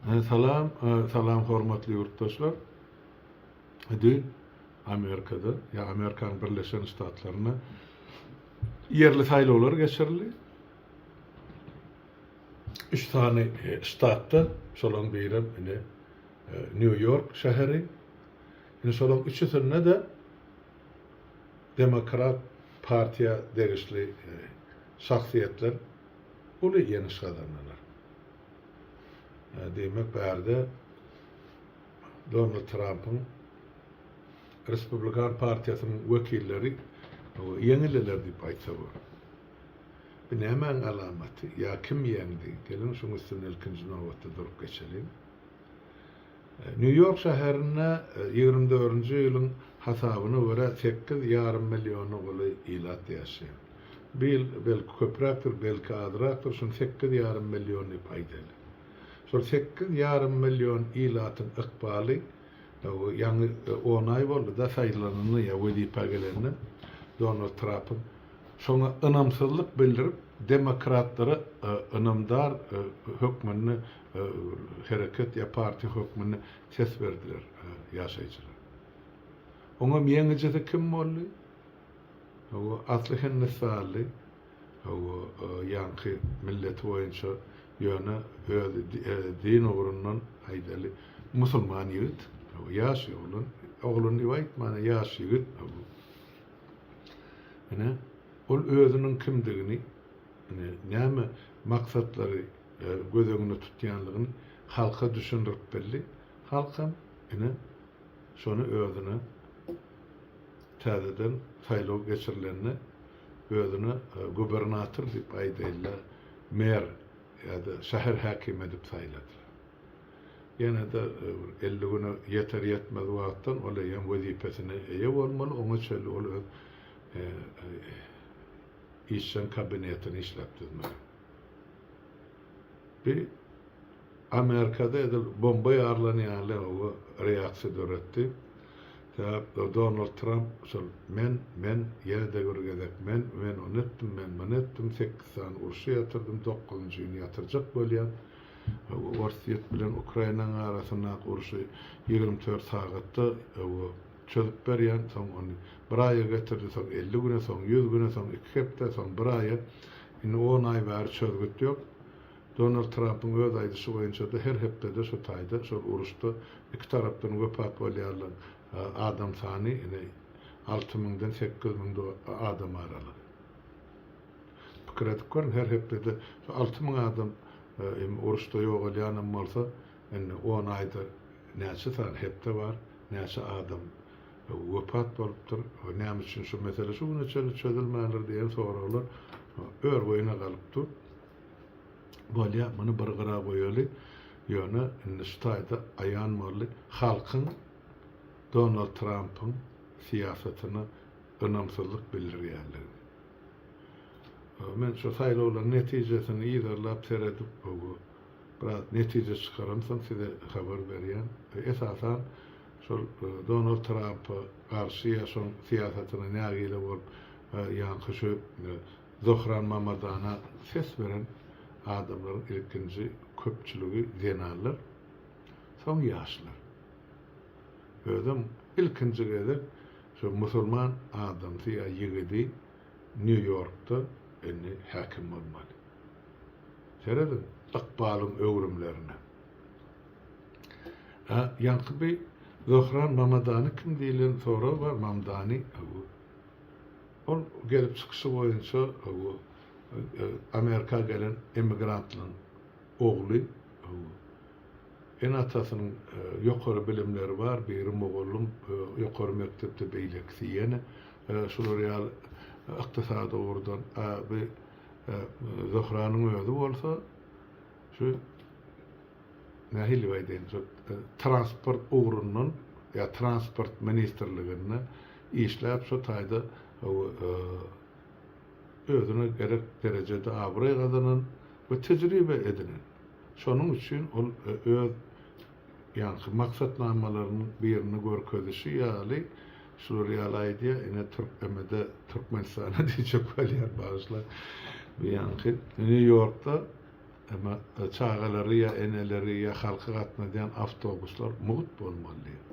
Salam salam hormatly ýurtdaşlar düýn Amerikada ýa Amerikanyň Birleşen Ştatlarynda ýerli saýlawlar geçirildi. Üç sany e, ştatda şolaryň biri indi e, New York şäheri. Indi şolaryň üçüsinde de demokrat partiýa degişli e, şahsyýetler uly ýeňiş gazandylar. Diýmek, bärde Donald Trampyň Respublikan partiýasynyň wekilleri ýeňildiler diýip aýtsa bolar. Bu nämäň alamaty ýa kim ýeňdi? Geliň, şuň üstünde ilkinji nobatda durup geçeliň. Nýu-Ýork şäherinde ýigrimi dördünji ýylyň hasabyna görä sekiz ýarym milliona golaý ilat ýaşaýar. Bu ýyl belki köpräkdir, belki azrakdyr, şuny sekiz ýarym million diýip aýdaýly. Şol sekiz ýarym million ilatyň ykbaly ýaňy on aý boldy-da saýlananyna ýa wezipä gelenine Donald Trapyň. Şoňa ynamsyzlyk bildirip, demokratlara ynamdar hökmünde hereket ýa partiýa hökmünde ses berdiler ýaşaýjylar. Oňam ýeňijisi kim boldy? Hawa, asly hindistanly, hawa, ýaňky milleti boýunça, ýöne özi din ugrundan, aýdaly, musulman ýigit, hawa, ýaş oglan, oglan diýip aýtman, ýaş ýigit, hawa. Ine, ol özüniň kimdigini, ine, näme maksatlary, göz öňünde tutýandygyny halka düşündirip bildi. Halk hem ine, şony özüne täzeden saýlaw geçirilende özüne gubernator diýip aýdaýyl-da, mer ýa-da şäher häkimi edip saýladylar. Ýene-de bir elli güne ýeter-ýetmez wagtdan ol eýýäm wezipesine eýe bolmaly, oňa çenli ol öz işjeň kabinetini işläp düzmeli. Bu Amerikada edil bomba ýarylan ýaly reaksiýa döretdi. Sebäp Donald Tramp şol men, men, ýene-de bir gezek men, men ony etdim, men muny etdim, sekiz sany urşy ýatyrdym, dokuzynjyny ýatyrjak bolýan. Orsýet bilen Ukrainanyň arasyndaky urşy ýigrimi dört sagatda Çözüp berýän, soň ony bir aýa getirdi, soň elli güne, soň ýüz güne, soň iki hepde, soň bir aýa. Indi on aý bäri çözgüt ýok. Donald Trampyň öz aýdyşy boýunça-da her hepdede şu taýda, şol uruşda iki tarapdan wepat bolýarlaň adam sany ine alty müňden sekiz müň adam aralygy. Pikir edip görüň, her hepdede şu alty müň adam uruşda ýogalýanam bolsa, Indi on aýda näçe sany hepde bar, näçe adam wepat bolupdyr we näme üçin şu mesele şu güne çenli çözülmändir diýen soraglar ör-boýuna galyp dur. Bolýar, muny bir gyra goýaly, ýöne indi şu taýda aýan boldy, halkyň Donald Trampyň syýasatyna ynamsyzlyk bildirýändigini. Men şu saýlawlaryň netijesini yzarlap seredip, Biraz netije çykaramsoň size habar berýän. Esasan şol Donald Trampa garşy ýa şoň syýasatyna nägile bolup ýaňky şu Zohran Mamadana ses beren adamlaryň ilkinji köpçüligi zenanlar, soň ýaşlar. Özem ilkinji gezek şu musulman adamsy ýa ýigidi Nýu Ýorkda indi häkim bolmaly. Serediň ykbalyň öwrümlerine. Hä, ýaňky bi Zöhran Mamadany kim diýlen sorag bar, Mamdani, hawa. Ol gelip çykyşy boýunça, hawa, Amerika gelen emigrantlaryň ogly, hawa. Ene-atasynyň ýokary bilimleri bar, biri mugallym, ýokary mekdepde, beýlekisi ýene şular ýaly ykdysady ugurdan, a bi, Zöhranyň özi bolsa şu nähili diýip aýdaýyn, şu transport ugrundan ýa transport ministrliginde işläp şu taýda özüne gerek derejede abraý gazanan we tejribe edinen. Şonuň üçin ol öz Ýaňky maksatnamalarynyň birini görkezişi ýaly, şular ýaly aýdýar, ine Türkmeme-de, Türkmenistana diýjek bolýar, bagyşla, bu ýaňky Nýu-Ýorkda emma çagalary ýa eneleri ýa halky gatnadýan awtobuslar mugt bolmaly diýip.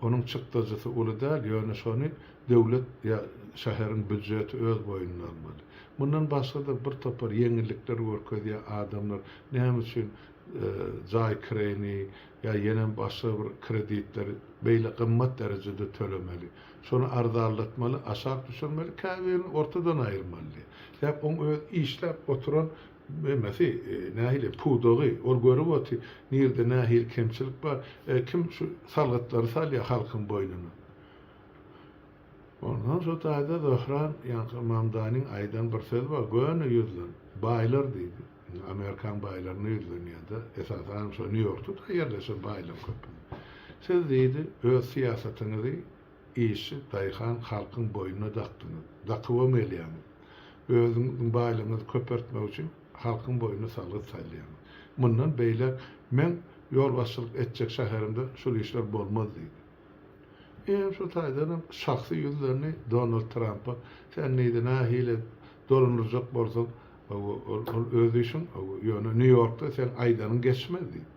Onuň çykdajysy uly däl, ýöne şony döwlet ýa şäheriň býudjeti öz boýnuna almaly. Mundan başga-da bir topar ýeňillikler görkezýär adamlar näme üçin jaý kireýini ýa ýene başga bir kreditleri beýle gymmat derejede tölemeli. Şony arzanlatmaly, aşak düşürmeli, käbirini ortadan aýyrmaly. Sebäp oň öz işläp oturan emesi, nähili, pudagy, ol görüp oty, nirde nähili kemçilik bar, kim şu salgytlary salýa halkyň boýnuna. Ondan soň taýda Zöhran ýaňky Mamdanyň aýdan bir sözi bar, göni ýüzlen, baýlar diýdi. Amerikan baýlaryna ýüzlenýärdi, esasanam şo Nýu-Ýorkda-da ýerleşen baýlyk köp. Siz diýdi, öz syýasatyňyzy işçi, daýhan, halkyň boýnuna dakdyňyz. Dakybam gelýäňiz. Özüňiziň baýlygyňyzy köpeltmek üçin halkyň boýnuna salgyt salýaňyz. Mundan beýläk meň ýolbaşçylyk etjek şäherimde şul işler bolmaz diýdi. Eýýäm şo taýdanam şahsy ýüzlerini Donald Trampa, Sen neyde nahili dolandyrjak bolsaň, ol öz işiň, ýöne Nýu-Ýorkda seň aýdanyň geçmez diýip.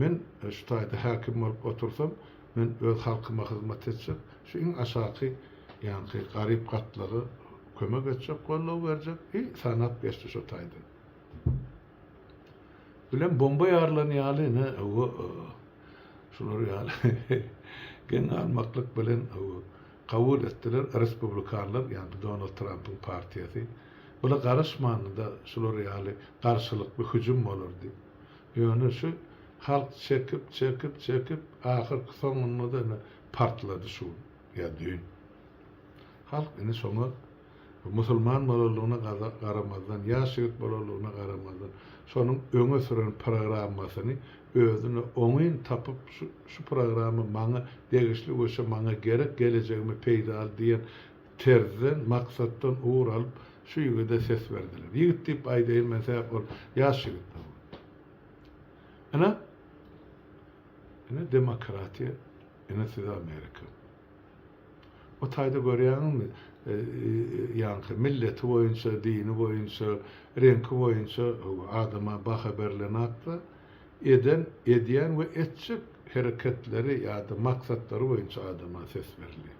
Men şu taýda häkim bolup otursam, men öz halkyma hyzmat etjek, şu iň aşaky ýaňky garyp gatlaga kömek etjek, goldaw berjek, i sanap geçdi şo taýdan. Bilen bomba ýarylan ýaly ine owo şular ýaly geň galmaklyk bilen owo kabul etdiler respublikanlar ýagny Donald Trampyň partiýasy bula garaşmanda şular ýaly garşylykly hüjüm bolardy ýöne şu halk çekip çekip çekip ahyrky soňunda da ine partlady şu ýa düýn halk ine şoňa Musulman bolanlygyna garamazdan, ýaş ýigit bolanlygyna garamazdan, şonuň öňe süren programmasyny özüne oňyn tapyp, şu programma maňa degişli we şu maňa gerek, gelejegime peýdaly diýen terzden, maksatdan ugur alyp, şu ýigide ses berdiler. Ýigit diýip aýdaýyn men, sebäp ol ýaş ýigit. Ine, ine demokratiýa, ine size Amerika. Bu taýda görýäňizmi, ýaňky milleti boýunça, dini boýunça, reňki boýunça adama baha berlenokda, eden, edýän we etjek hereketleri ýa-da maksatlary boýunça adama ses berilýär.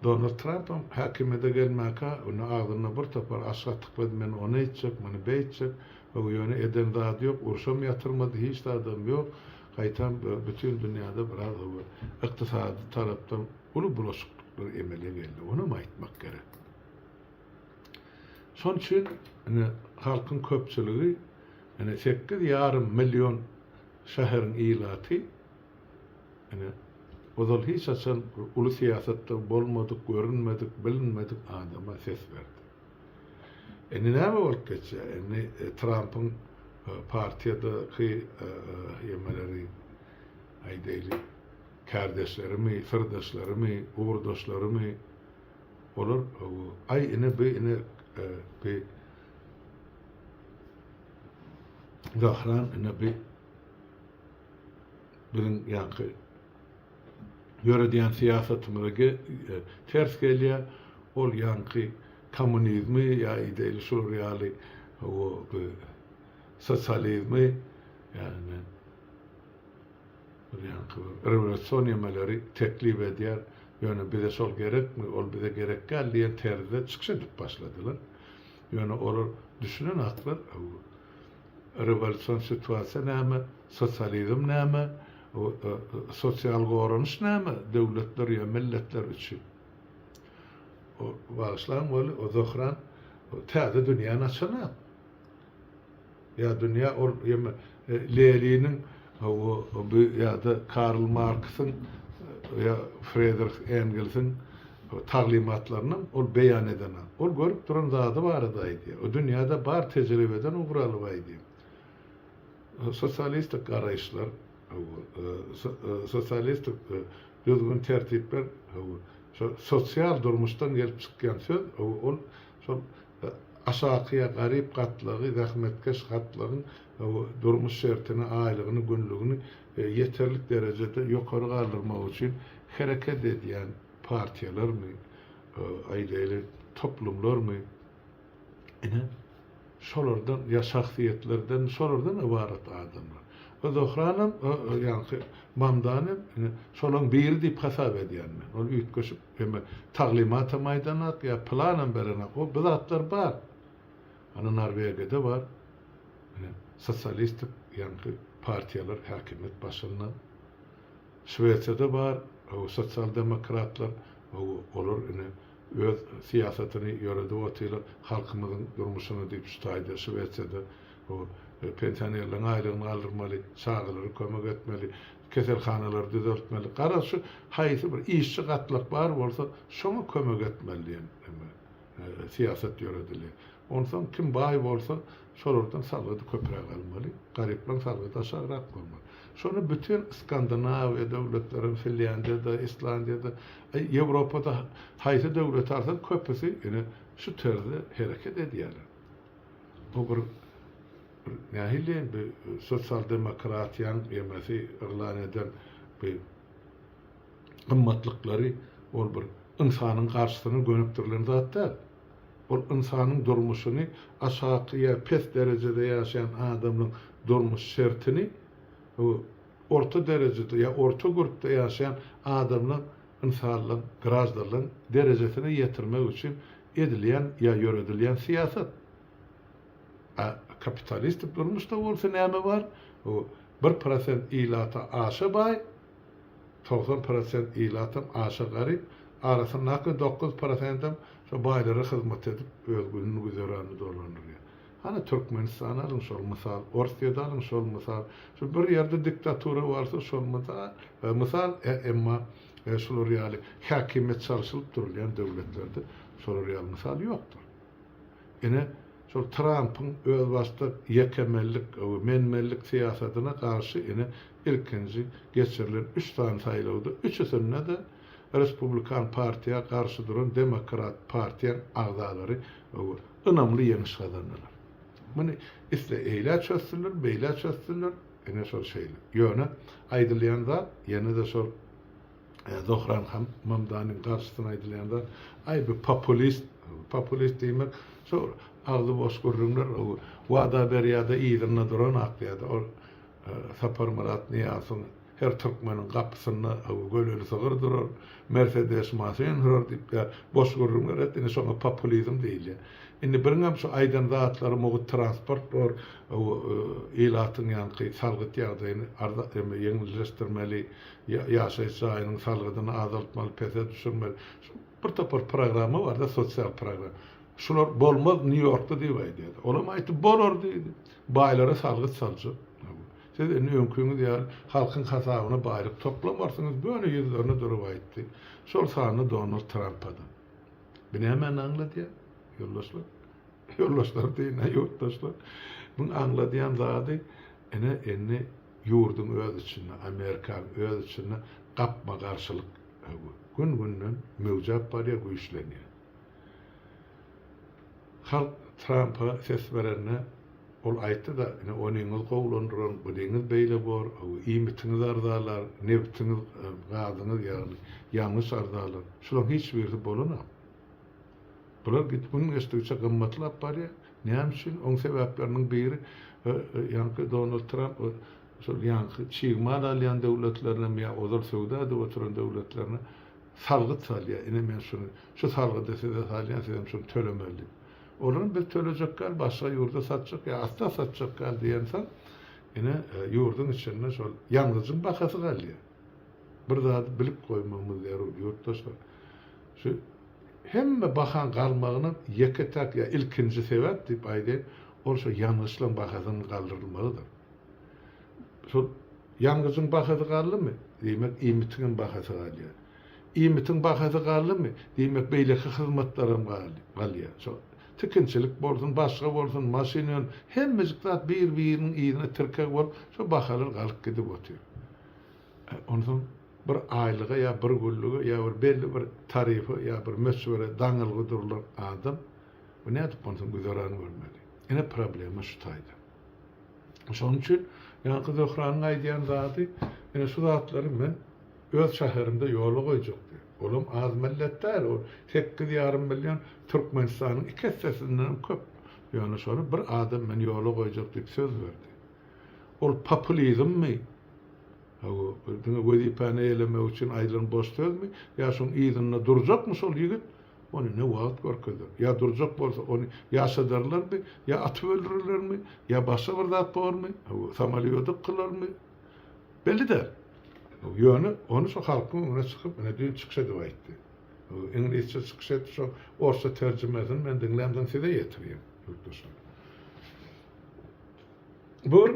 Donald Trampam häkimiýete gelmäkä, indi agzynda bir topar aşyk atyklady, men ony eýtjek, muny beýtjek, ýöne eden zady ýok, urşam ýatyrmady, hiç zadam ýok, Gaýta bütin dünýäde biraz da bir ykdysady tarapdan uly bulaşyklyklar emele geldi, onam aýtmak gerek. Şon üçin ine halkyň köpçüligi ine sekiz ýarym million şäheriň ilaty ine ozal hiç haçan uly syýasatda bolmadyk, görünmedik, bilinmedik adama ses berdi. Indi näme bolup geçýär? Indi Trampyň partiýadaky ýemeleri, aýdaýly, kärdeşlerimi, syrdaşlarymy, ugurdaşlarymy, olar aý ine bi ine bi gahryman ine bi biziň ýaňky döredýän syýasatyňyza ters gelýär, ol ýaňky kommunizmi ýa ideýli şular ýaly sosializmi ýagny bir ýaňky rewolýusion ýemeleri teklip edýär, ýöne bize şol gerekmi, ol bize gerek däl diýen terzde çykyş edip başladylar, ýöne olar düşünen haklar. Rewolýusion situasiýa näme, sosializm näme, sosial goranyş näme döwletler ýa milletler üçin? Bagyşlaň weli, o Zohran täze dünýäni açanok. Ýa dünýä ol ýa Leniniň Hawa, ýa-da Karl Marksyň ýa Fredrih Engelsiň taglymatlarynam ol beýan edena. Ol görüp duran zady barada aýdýar. O dünýäde bar tejribeden ugur alyp aýdýar. Sosialistik garaýyşlar, sosialistik düzgün-tertipler, hawa, şo sosial durmuşdan gelip çykýan söz, hawa, ol şol Aşaky ýa garyp gatlagy zähmetkeş gatlagyň durmuş şertini, aýlygyny, günlügini ýeterlik derejede ýokary galdyrmak üçin hereket edýän partiýalarmy, aýdaýly, toplumlarmy, ine, şolardan ýa şahsyýetlerden, şolardan ybarat adamlar. Bu Zohranam, ýaňky Mamdanam, ine, şolaň biri diýip hasap edýän men. Ol üýtgeşik. Hemme taglymatam aýdanak ýa pylanam berenak o bu zatlar bar. Ana Norwegiýada bar. Ine sosialistik ýaňky partiýalar häkimiýet başynda. Şwesiýada bar o sosial demokratlar o olar ine öz syýasatyny ýöredip otyrlar halkymyzyň durmuşyny diýip şu taýda Şwesiýada o pensionerleriň aýlygyny galdyrmaly çagalara kömek etmeli. Keselhanalary düzeltmeli. Garaz, şu haýsy bir işçi gatlak bar bolsa, şoňa kömek etmeli diýen indi syýasat ýöredilýär. Onsoň kim baý bolsa, şolardan salgydy köpräk almaly, garyplaryň salgydy aşagrak bolmaly. Şony bütin Skandinawiýa döwletleri hem, Finlýandiýa-da, Islandiýa-da, Ýewropa-da haýsy döwleti alsaň, köpüsi ine şu terzde hereket edýärler. Bu bir. Nähili bir sosial demokratiýaň ýemesi yglan eden bir gymmatlyklary ol bir ynsanyň garşysyna gönükdirilen zat däl. Ol ynsanyň durmuşyny aşaky ýa pes derejede ýaşaýan adamlaryň durmuş şertini orta derejede ýa orta gürpde ýaşaýan adamlaryň ynsanlaryň graždanlaryň derejesine ýetirmek üçin edilýän ýa ýöredilýän syýasat. A kapitalistik durmuşda bolsa näme bar? Bu bir prosent ilata aşa baý, togsan prosent ilatam aşa garyp, arasyndaki dokuz prosendem şo baýlara hyzmat edip öz gününi güzeranini dolandyrýar. Hany Türkmenistany alyň şol mysal, Orsýedi alyň şol mysal, şu bir ýerde diktatura barsa şol mysal, emma şular ýaly häkimiýet çalşylyp durulýan döwletlerde şolar ýaly mysal ýokdur. Ine, şol Trampyň özbaşdak ýekemellik we menmenlik syýasatyna garşy ine ilkinji geçirilen üç sany saýlawda üçüsinde-de Respublikan partiýa garşy duran Demokrat partiýaň agzalary ynamly ýeňiş gazandylar. Muny isle eýlä çözsünler, beýlä çözsünler, ine şol şeýle. Ýöne aýdylýan zat ýene-de şol. Zohran han Mamdanyň garşysyna aýdylýan zat, Aý bu populist, populist diýmek şo agzy boş gürrüňler, wada berýärde yzynda duran akýada ol Saparmyrat Nyýazowyň her türkmeniň gapysynda göleli sygyr durar, mersedes maşyn sürer diýip ýa boş gürrüňler et, indi şoňa populizm diýilýär. Indi biriňem şu aýdan zatlary mugt transport bor, ilatyň ýaňky salgyt ýagdaýyny arza, ýeňilleşdirmeli, ýaşaýyş jaýynyň salgydyny azaltmaly, pese düşürmeli. Şu bir topar programma barda, sosial program. Şular bolmaz Nýu-Ýorkda diýip aýdýardy. Olam aýtdy, bolar diýdi. Baýlara salgyt saljak. Siz indi öňkiňiz ýaly halkyň hasabyna baýlyk toplamarsyňyz, göni ýüzlerine durup aýtdy. Şol sanda Donald Trampa-da. Bu nämäni aňladýar, ýoldaşlar? Ýoldaşlar deýin-ä, ýurtdaşlar. Muň aňladýan zady, ine, indi, Ýurduň öz içinde, Amerikan öz içinde gapma-garşylyk gün-günden möwjäp barýar, güýçlenýär. Halk Trampa ses berende, ol aýtdy-da, ine, onyňyz gowulandyran, bunyňyz beýle bor, iýmitiňiz arzalar, nebtiňiz, gazyňyz, ýagny ýangyç arzalar. Şularyň hiç birisi bolanok. Bular gün geçdigiçe gymmatlap barýar. Näme üçin? Oň sebäpleriniň biri, ýaňky Donald Tramp şol ýaňky çig mal alýan döwletlerinem ýa ozal söwda edip oturan döwletlerine salgyt salýar. Ine men şuny, şu salgydy size salýan, sizem şuny tölemeli diýip. Olaram biz tölejek däl, başga ýurda satjak ýa asla satjak däl diýensoň, ine ýurduň içinde şol ýangyjyň bahasy galýar. Bir zady bilip goýmagymyz zerur, ýurtdaşlar. Şu hemme bahaň galmagyna ýeke-täk ýa ilkinji sebäp diýip aýdaýyn, ol şo ýangyçlaryň bahasynyň galdyrylmagydyr. Şol ýangyjyň bahasy galdymy, diýmek, iýmitiň hem bahasy galýar. Iýmitiň bahasy galdymy, diýmek, beýleki hyzmatlaram galýar. Şo Tikinçilik bolsun, başga bolsun, maşyn öň, hemmejik zat bir-biriniň yzyna tirkeg bolup, şo bahalar galyp gidip otyr. Onsoň bir aýlyga ýa bir günlige ýa bir belli bir tarife ýa bir möçbere daňylgy durulan adam, bu nädip onsoň güzeran görmeli? Ine problema şu taýdan. Şonuň üçin ýaňky Zöhranyň aýdýan zady, ine şu zatlary men öz şäherimde ýola goýjak diýip. Olam az millet däl, ol sekiz ýarym million Türkmenistanyň iki essesindenem köp. Ýöne şony bir adam men ýola goýjak diýip söz berdi. Ol populizmmi, hawa, diňe wezipäni eýelemek üçin aýdylan boş sözmi, ýa şoň yzynda durjakmy şol ýigit? Ony ne wagt görkezdiler. Ýa durjak bolsa, ony ýaşadarlarmy, ýa atyp öldürerlermi, ýa başga bir zat bormy, samolýodyk kylarmy, belli däl. Ýöne ony şo halkyň öňüne çykyp, ine düýn çykyş edip aýtdy. Iňlisçe çykyş etdi, şo orsça terjimesini men diňläm, soň size ýetirýän, ýurtdaşlar. Bu bir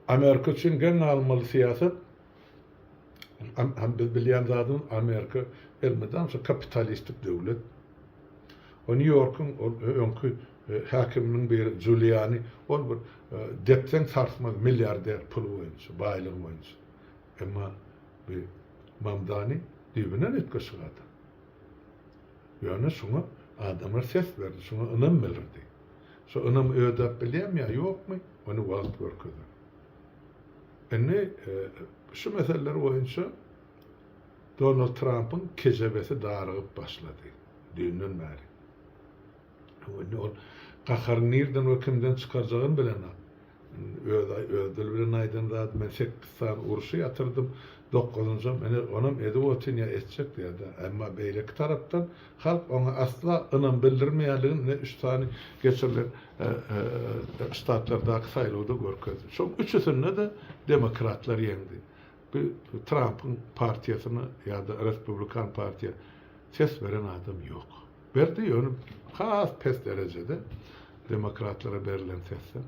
Amerika üçin geň galmaly syýasat. Hem biz bilýän zadym Amerika elmydam şo kapitalistik döwlet. O New Yorkuň ol öňki e, häkiminiň biri Juliani ol bir e, depsen sarsmaz milliarder puly boýunça, baýlygy boýunça. Emma bu Mamdani düýbünden üýtgeşik adam. Ýöne şuňa adamlar ses berdi, şuňa ynam bildirdi. Şu ynamy ödäp bilýärmi ýa ýokmy, ony wagt görkezer. Indi şu meseleler boýunça Donald Trampyň kejebesi darygyp başlady. Düýnden bäri. Indi ol gaharyny nirden we kimden çykarjagyny bilenok. Özi öz dili bilen aýdan zady men sekkiz sany urşy ýatyrdym, dokuzynjam ine onam edip otyryn ýa etjek ýa-da. Emma beýleki tarapdan Halk oňa asla ynam bildirmeýändigini ine üç sany geçirilen ştatlardaky saýlawda görkezdi. Şoň üçüsinde-de demokratlar ýeňdi. Bu Trampyň partiýasyna ýa-da respublikan partiýa ses beren adam ýok. Berdi, ýöne has pes derejede demokratlara berlen sesden.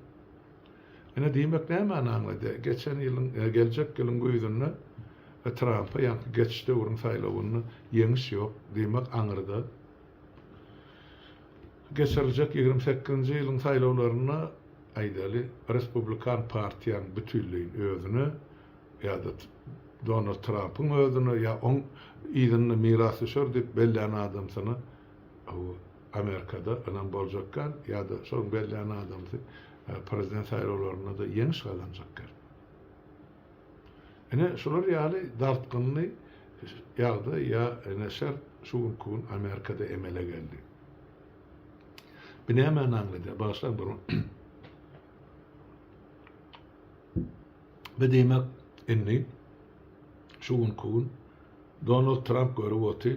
Ine diýmek nämäni aňladýar? Geçen ýylyň, geljek ýylyň güýzünde Trampa ýaňky geçiş döwrüň saýlawynda ýeňiş ýok, diýmek aňyrda geçiriljek ýigrimi sekizinji ýylyň saýlawlarynda, aýdaly, respublikan partiýanyň bütinleýin özüne ýa-da Donald Trampyň özüne ýa oň yzynda mirasdüşer diýip bellän adamsyna, Bu Amerikada ynam boljak gal ýa-da şoň bellän adamsy prezident saýlawlarynda-da ýeňiş gazanjak gal. Ine şular ýaly dartgynly ýagdaý ýa ine şert şu günki gün Amerikada emele geldi. Bu nämäni aňladýar? Bagyşlaň bir Bu diýmek indi şu günki gün Donald Tramp görüp oty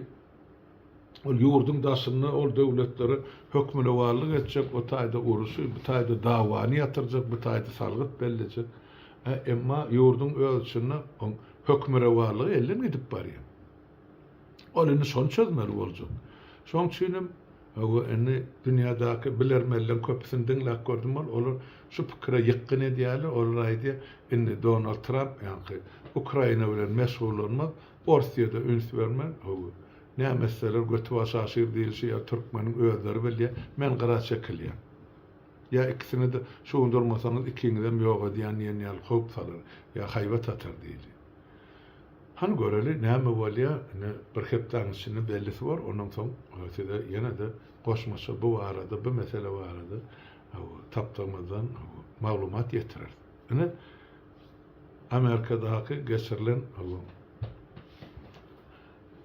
Ol ýurduň daşynda ol döwletlere hökmürowanlyk etjek, o taýda uruşy, bu taýda dawany ýatyrjak, bu taýda salgyt bellejek. Ä, emma ýurduň öz içinde oň hökmürowanlygy elden gidip barýar. Ol indi şony çözmeli boljak. Şoň üçin hem Hawa, indi dünýädäki bilermenleriň köpüsini diňläp gördüm ol, olar şu pikire ýykgyn edýärler, olar aýdýar, indi Donald Tramp ýaňky Ukraina bilen meşgullanmaz, Orsiýada üns bermän, hawa, näme etseler götibaş aşyr diýilşi ýa türkmeniň özleri bilýär, men gyra çekilýän. Ýa ikisini-de şu gün durmasaňyz ikiňizem ýok edýän diýen ýaly howp salar, ýa haýbat atar diýdi. Hany göreli, näme bolýar, ine, bir hepdäniň içinde bellisi bor, ondan soň size ýene-de goşmaça bu barada, bu mesele barada, hawa, tapdygymyzdan, hawa, maglumat ýetireris. Ine, Amerikadaky geçirilen ylym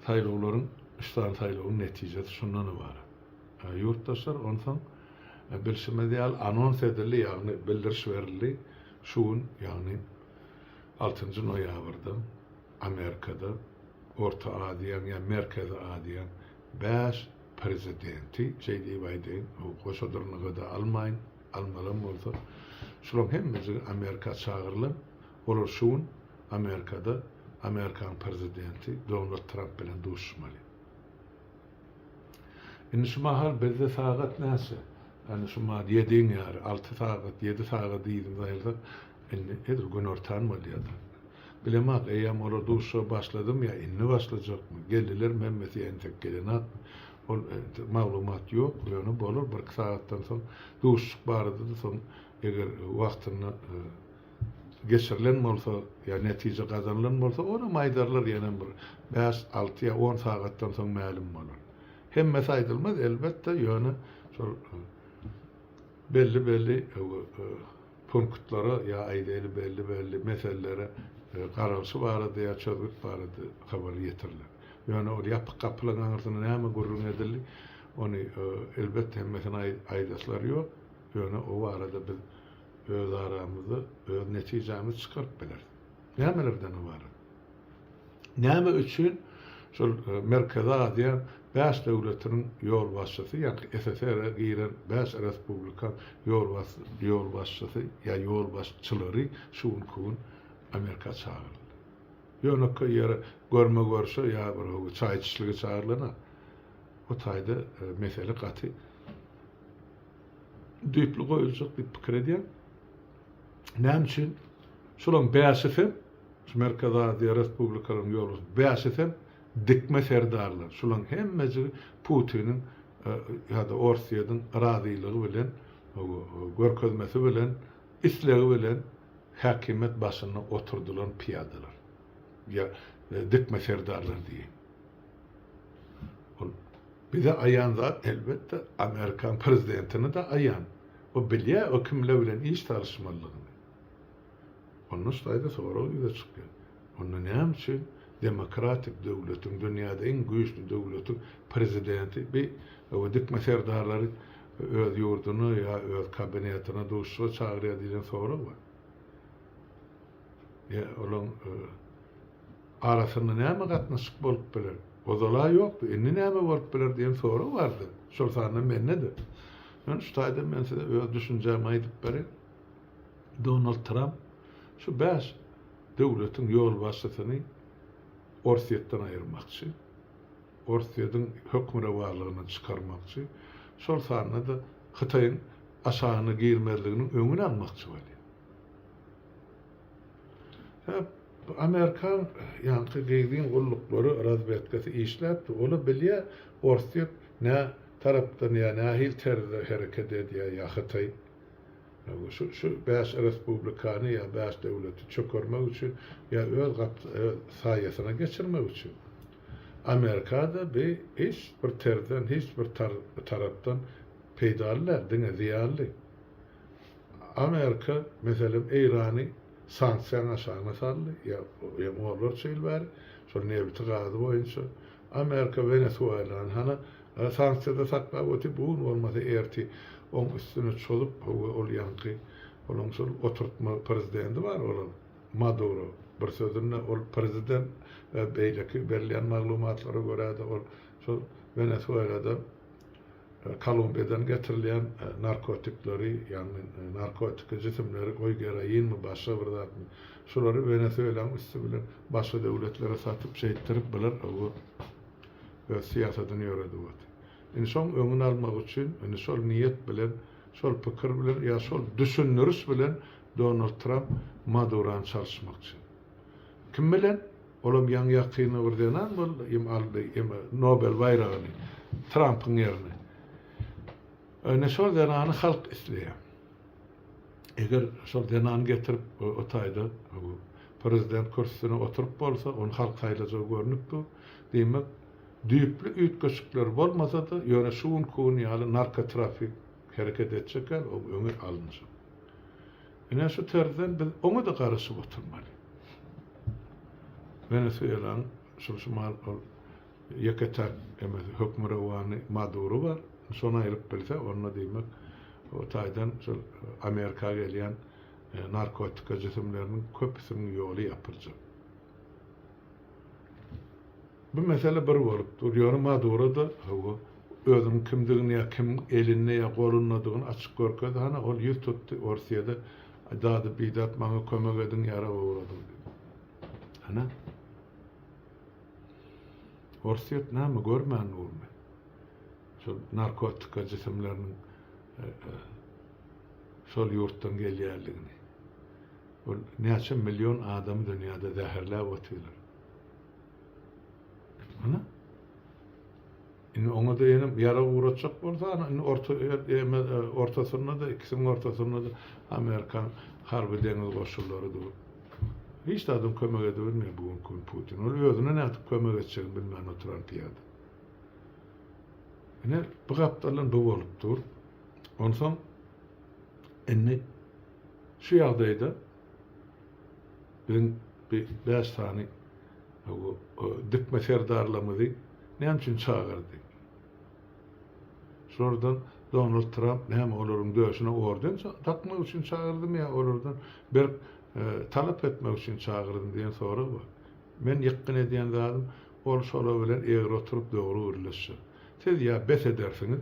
saýlawlaryň üçsany saýlawyň netijesi şundan ybarat. Ýurtdaşlar onsoň bilşimiz ýaly anons edildi, ýagny bildiriş berildi, şu gün ýagny altynjy noýabrda Amerikada Orta Aziýaň ýa Merkezi Aziýaň bäş prezidenti, şeý diýip aýdaýyn, goşa dyrnaga-da almaýyn, Almalam bolsa, şulaň hemmejigi Amerika çagyrylan, olar şu gün Amerikada Amerikanyň Prezidenti Donald Tramp bilen duşuşmaly. Indi şu mahal bizde sagat näçe? Ýani şu mahal ýediň ýary, alty sagat, ýedi sagat yzyna saýylsak, indi edil günortan bolýadyr. Bilemok, eýýäm olar duşuşa başladymy ýa indi başlajakmy? Geldilermi hemmesi ýa entek gelenokmy? Ol maglumat ýok, ýöne bolar birki sagatdan soň duşuşyk barada-da soň eger wagtynda geçirilen bolsa ýa netije gazanylan bolsa onam aýdarlar ýenem bir bäş, alty ýa on sagatdan soň mälim bolar. Hemmesi aýdylmaz elbetde ýöne şol belli-belli punktlara ýa aýdaýly belli-belli meselelere garalyşy barada ýa çözgüt barada habar ýetiriler. Ýöne ol ýapyk gapylaryň aňyrsynda näme gürrüň edildi, ony elbetde hemmesine aýdaslar ýok, ýöne o barada biz öz aramyzda öz netijämizi çykaryp bileris. Nämelerden ybarat? Näme üçin şol Merkezi Aziýa bäş döwletiniň ýolbaşçysy, ýagny SSR-e giren bäş respublikan ýolbaşçysy ýa ýolbaşçylary şu günki gün Amerika çagyryldy? Ýönekeý ýere görme-görşe ýa bir howa çaý içişlige çagyrylan-a. Bu taýda mesele gaty düýpli goýuljak diýip pikir edýän. Näme üçin? Şolaryň bäşisi hem, şu Merkezi Aziýa respublikalarynyň ýolbaşçylary, bäşisi hem dikme serdarlar. Şolaryň hemmejigi Putiniň ýa-da Orsýetiň razylygy bilen, görkezmesi bilen, islegi bilen häkimiýet başynda oturdylan pyýadalar. Ýa dikme serdarlar diýeýin. Ol bize aýan zat elbetde Amerikan prezidentine-de aýan. O bilýär o kimler bilen iş salyşmalydygyny. Onda şu taýda sorag ýüze çykýar. Onda näme üçin demokratik döwletiň, dünýäde iň güýçli döwletiň prezidenti bi owe dikme serdarlary öz ýurduna ýa öz kabinetine duşuşyga çagyrýar diýlen sorag bar. Ýa olaň arasynda näme gatnaşyk bolup biler? Ozal-a ýokdy, indi näme bolup biler diýen sorag bardy. Şol sanda mende-de. Ýöne şu taýdan men size öz düşünjämi aýdyp bereýin. Donald Tramp şu bäş döwletiň ýolbaşçysyny Orsýetden aýyrmakçy, Orsýediň hökmürowanlygyndan çykarmakçy, şol sanda-da Hytaýyň aşagyna girmezliginiň öňüni almakçy bolýar. Hep amerikan ýaňky gyzyn gulluklary razwedkasy işläpdi ola bilýä orsýet nä tarapdan ýa nähili terzde hereket edýä ýa hytaý şu şu bäş respublikany ýa bäş döwleti çökermek üçin ýa öz gap öz saýasyna geçirmek üçin amerikada bi hiç bir terzden hiç bir tar tarapdan peýdaly däl diňe zyýanly Amerika, meselem, Eýrany sanksiýanyň aşagyna saldy, ýa-hem onlarça ýyl bäri, şol nebiti, gazy boýunça. Amerika Wenesuelany hana sanksiýada saklap otyr, bu gün bolmasa erti oň üstüne çozup, hawa, ol ýaňky, olaň şol oturtma prezidenti bar olaň, Maduro. Bir sözünde, ol prezident, beýleki berilýän maglumatlara görä-de, ol şol Wenesuelada, Kolumbiýadan getirilýän narkotikleri, ýagny narkotiki jisimleri, goý geroinmi, başga bir zatmy, şulary Wenesuelaň üsti bilen başga döwletlere satyp, şeýtdirip bular bu öz syýasadyny ýöredip otyr. Indi şoň öňüni almak üçin, indi şol niýet bilen, şol pikir bilen ýa şol düşündiriş bilen Donald Tramp Madurany çalyşmakçy. Kim bilen? Olam ýaňy-ýakynda bir zenan boldy, em aldy, em Nobel baýragyny, Trampyň ýerine. Ine şol zenany halk isleýär. Eger şol zenan getirip o taýda prezident kürsüsine oturyp bolsa, ony halk saýlajagy görnüp dur. Diýmek, düýpli üýtgeşikler bolmasa-da, ýöne şu günki gün ýaly narkotrafik hereket etjek ýaly, o öňe alynjak. Ine şu tarzdan biz oňa-da garaşyp oturmaly. Wenesuelaň şul şumal ol ýeke-täk emes hökmürowany Maduro bar. Şony aýryp bilse, onda diýmek o taýdan şol Amerika gelýän narkotika jisimleriniň köpüsiniň ýoly ýapyljak. Bu mesele bir bolup dur, ýöne Maduro-da, hawa, özüniň kimdigini ýa kimiň elinde ýa golundadygyny açyk görkezdi, hana, ol ýüz tutdy Orsyýada, dady bidat maňa kömek ediň, ýarag ogradyň diýip. Hana, Orsyýet näme görmän durmy? Şol narkotika jisimleriniň şol ýurtdan gelýänligini. Ol näçe million adamy dünýäde zäherläp otyrlar. Hany? Indi oňa-da ýene ýarag ugratjak bolsa, ana, indi orta ortasynda-da, ikisiniň ortasynda-da amerikan harby-deňiz goşunlary dur. Hiç zadyň kömek edibilmeýär bu günki gün Putin. Ol özüne nädip kömek etjegini bilmän oturan pyýada. Ine, bu gapdaldan bu bolup dur. Onsoň indi Şu ýagdaýda biz bu bäş sany dykma serdarlarymyzy näme üçin çagyrdy? Şulardan Donald Tramp näme olaryň döşüne orden dakmak üçin çagyrdymy ýa olardan berk talap etmek üçin çagyrdymy diýen sorag bar. Men ýykgyn edýän zadym, ol şolar bilen egri oturyp dogry gürleşjek. Siz ýa bes edersiňiz,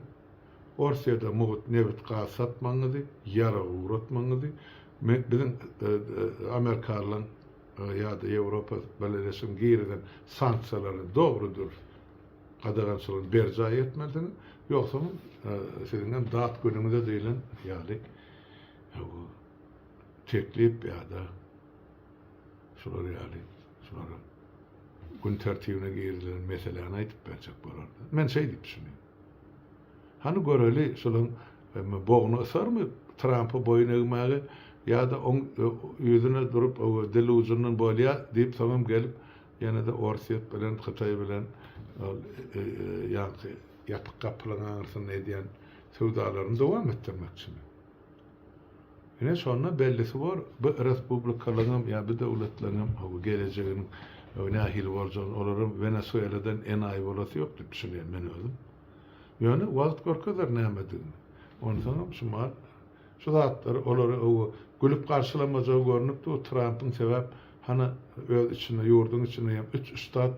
Orsýada mugt nebit gaz satmagyňyzy, ýarag ugratmagyňyzy men biziň amerikalylaň ýa-da Ýewropa Birleşiginiň girizen sanksiýalaryny dogry dürüst gadagançylygyny berjaý etmelisiňiz, ýogsam siziňem dat günüňize diýlen ýaly bu teklip ýa-da şular ýaly şulara gün tertibine girizilen meseläni aýdyp berjek bolarlar. Men şeý diýip düşünýän. Hany göreli şulaň bogny ysarmy Trampy boýun egmäge ýada oň ýüzüne durup ow dil ujundan bolýa diýip soňam gelip ýenede Orsýet bilen Hytaý bilen ol ýaňky ýapyk gapylaň aňyrsynda edýän söwdalaryny dowam etdirmekçimi. Ine şonda bellisi bor, bu respublikalaryňam ýa bu döwletleriňem howa gelejeginiň nähili boljagyny, olaram Wenesueladan enaýy bolasy ýok diýip düşünýän men özüm. Ýöne wagt görkezer nämedigini. Onsoňam şumal şu zatlary olara howa gülüp garşylamajagy görnüp dur Trampyň sebäp hany öz içinde ýurduň içinde hem üç üstad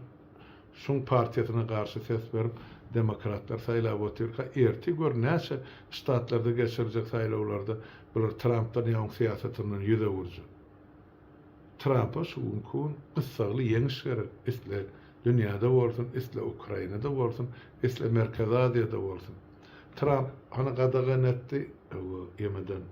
Şuň partiýasyna garşy ses berip demokratlar saýlap otyrka ertir gör näçe ştatlarda geçiriljek saýlawlarda bular Trampdan ýa oň syýasatyndan ýüz öwürjek. Trampa şu günki gün gyssagly ýeňiş gerek isle dünýäde bolsun isle Ukrainada bolsun isle Merkezi Aziýada bolsun. Tramp hany gadagan etdi YMD-ni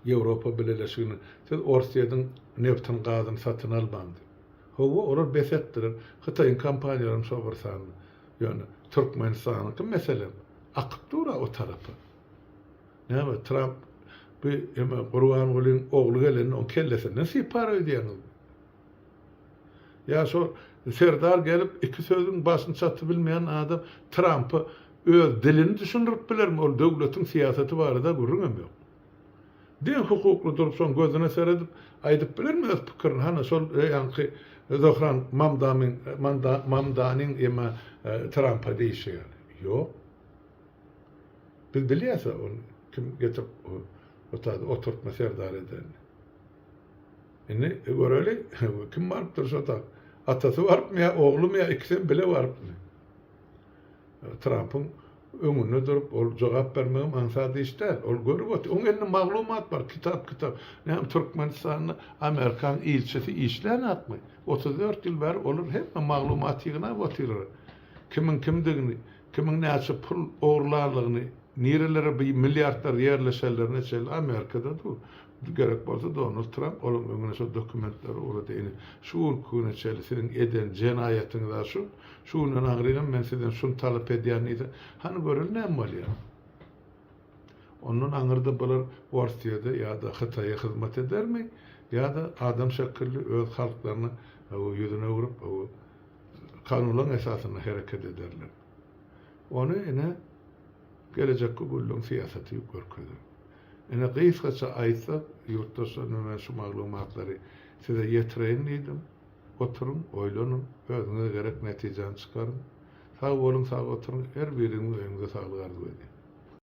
Ýewropa bileleşigini siz Orsýediň nebtini gazyny satyn almaň diýip. Hawa, olar besetdiler. Hytaýyň kompaniýalaram şol bir sanda. Ýöne Türkmenistanyňky meselem akyp dur-a o tarapa. Näme, Tramp bu eme Gurbangulyň ogly gelende oň kellesinden sypar öýdýäňizmi? Ýa şo Serdar gelip iki sözüň başyny çatyp bilmeýän adam Trampa öz dilini düşündirip bilermi? Ol döwletiň syýasaty barada gürrüňem ýok. Deň hukukly durupsoň gözüne seredip aýdyp bilermi öz pikirini hany şol ýaňky Zohran Mamdamyň Mamdanyň ýa Trampa diýişi ýaly ýok biz bilýäs a ony kim getirip otady oturtma serdar edenini indi göreli kim barypdyr şo tak atasy barypmy ýa oglumy ýa ikisem bile barypmy. Trampyň öňünde durup, ol jogap bermegem aňsat iş däl. Ol görüp otyr. Oň elinde maglumat bar, kitap-kitap. Näme, Türkmenistanda Amerikan ilçisi işlänakmy? Otuz dört ýyl bäri olar hemme maglumat ýygnap otyrlar. Kimiň kimdigini, kimiň näçe pul ogurlanlygyny, nirelere bu milliardlar ýerleşenlerine çenli Amerikada dur. Gerek bolsa Donald Tramp olaň öňüne şo dokumentleri ugrady. Ine, şu günki güne çenli siziň eden jenaýatyňyz-a şu. Şu günden aňryňam men sizden şuny talap edýän diýse, hany göreli näme bolýar? Ondan aňyrda bular Orsýede ýa-da Hytaýa hyzmat edermi ýa-da adam şekilli öz halklaryna ýüzüni öwrüp, kanunlaň esasynda hereket ederler. Ony ine, gelejekki günleň syýasaty görkezer. Ine, gysgaça aýtsak, ýurtdaşlar, indi men şu maglumatlary size ýetireýin diýdim. Oturyň, oýlanyň, özüňize gerek netijäni çykaryň. Sag boluň, sag oturyň, her biriňiziň öýüňize saglyk arzuw edýän.